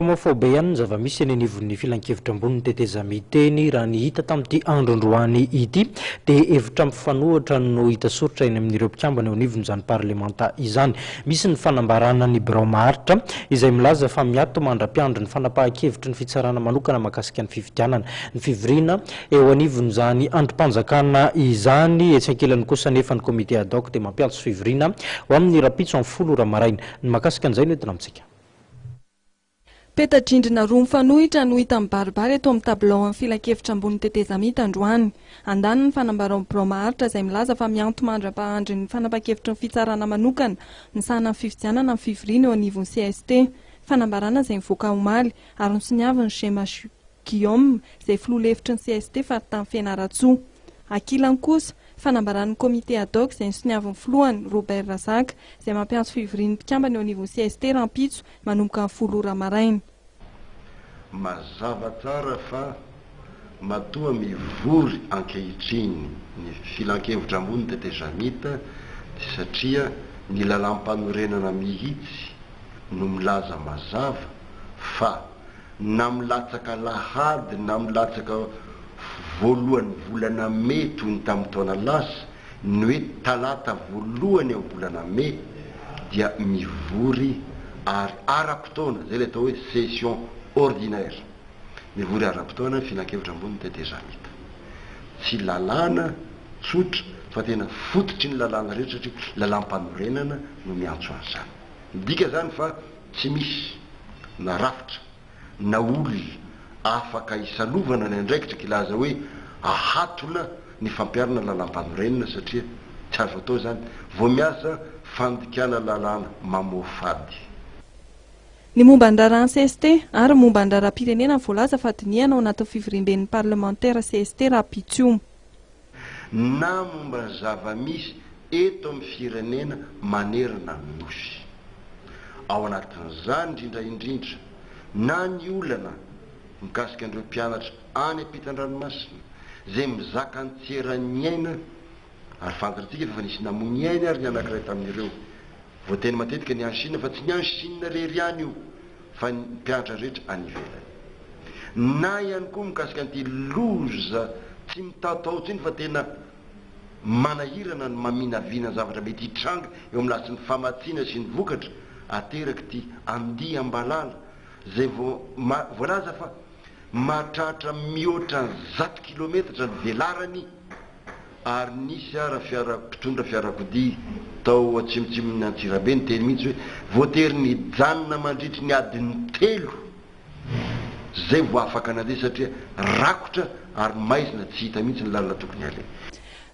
Homophobe ihany ny zava-misy eny anivon'ny filankevitra ambonin'ny tetezamita-eny raha ny hita tamin'ity andro androany ity dia hevitra mifanohitra no hita soritra eny amin'ireo mpikambana eo anivon'izany parlemanta izany. Misy ny fanambarana ny birao maharitra izay milaza fa miato mandra-piandry ny fanapahan-kevitry ny fitsarana manokana mahakasika ny fifidianana. Ny fivoriana eo anivon'izany andrim-panjakana izany etsy ankilany kosa anefa ny comité ad hoc dia mampiantso fivoriana ho amin'ny rahampitso amin'ny folo ora maraina. Ny mahakasika an'izay no entina amintsika. Peta-drindrina roa mifanohitra no hita mibaribary eto amin'ny tabilaon'ny filankevitra ambony tetezamita androany. Andaniny, fanambarao birao maharitra izay milaza fa miantomandry ampahandry ny fanapan-kevitry ny fitsarana manokana misahana ny fifidianana ny fivoriana eo anivon'ny cst. Fanambarana izay nivoaka omaly ary nosoniavin'i Gmh Guillaume izay filoha lefitry ny cst faritany Fianarantsoa. Ankilany kosa, Fanambaran'ny Comité ad hoc izay nisoniavin'ny filohany, Robert Razaka, izay mampiantso fivorian'ny mpikambana eo anivon'ny cst rahampitso manomboka ny folo ora maraina. Mazava tsara fa matoa mivory ankehitriny ny Filankevitra ambony tete Jamit dia satria ny Lalàmpanorenana mihitsy no milaza mazava fa na milatsaka lahady na milatsaka voalohan'ny volana mey toy ny tamin'ny taona lasa, ny hoe talata voalohany amin'ny volana mey dia mivory ary ara-potoana, izay ilay atao hoe session ordinaire. Mivory ara-potoana ny Filankevitra Ambony ny Tetezamita. Tsy lalàna tsotra fa tena fototry ny lalàna rehetra satria lalàm-panorenana no miantso an'izany. Midika izany fa. Tsy misy na rafitra na olona afaka hisalovana ny andraikitra kilaza hoe ahatona ny fampiharana lalàmpanorenana satria tsy azo atao izany vao miasa fandikana lalàna mamoafady. Ny momba ny raharaha ny cst ary ny momba ny raharaha-pirenena voalaza fa dinihana ao anatin'ny fivoriamben'ny parlemantera cst rahampitso. na momba ny zava-misy eto amin'ny firenena manerana ny Nosy. Ao anatin'izany indrindra indrindra na ny olana mikasika an'ireo mpianatra any am-pitan-dranomasina izay mizaka an-tseran'ny aina ary fantatsika fa efa nisy namoy ny ainy ary ny anankiray tamin'ireo. Voateny matetika ny any Shina fa tsy ny any Shina irery ihany io fa ny mpianatra rehetra any ivelany. Na ihany koa mikasika an'ity loza tsy mitaotao intsony fa tena manahirana ny maminavina ny zavatra mety hitranga eo amin'ny lafitry ny famatsiana sy ny vokatra aterak'ity andiam-balala izay voalaza fa mahatratra mihoatra ny zato kilometatra ny velarany ary nisy ara fiara mpitondra fiarakodia tao atsimotsimon'i Antsirabe niteny mihitsy hoe voatery nijanona mandritry ny adiny telo izay vao afaka nandeha satria rakotra ary maizina tsy hita mihitsy ny lalana tokony haleha.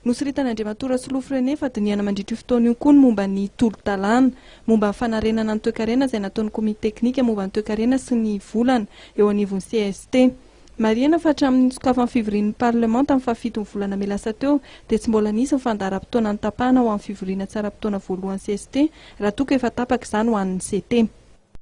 Nosoritan'Andriamatoa Rasolofo René fa dinihana mandritra io fotoana io koa ny momba ny tolo-dalàna momba ny fanarenana ny toekarena izay nataon'ny komity teknika momba ny toekarena sy ny volana eo anivon'ny cst. Marihina fa hatramin'ny nitsokafan'ny fivorian'ny Parlement tamin'ny fahafiton'ny volana mey lasa teo dia tsy mbola nisy ny fandaharam-potoana notapahana ho amin'ny fivoriana tsaram-potoana voalohany cst raha toa ka efa tapaka izany ho an'ny CT.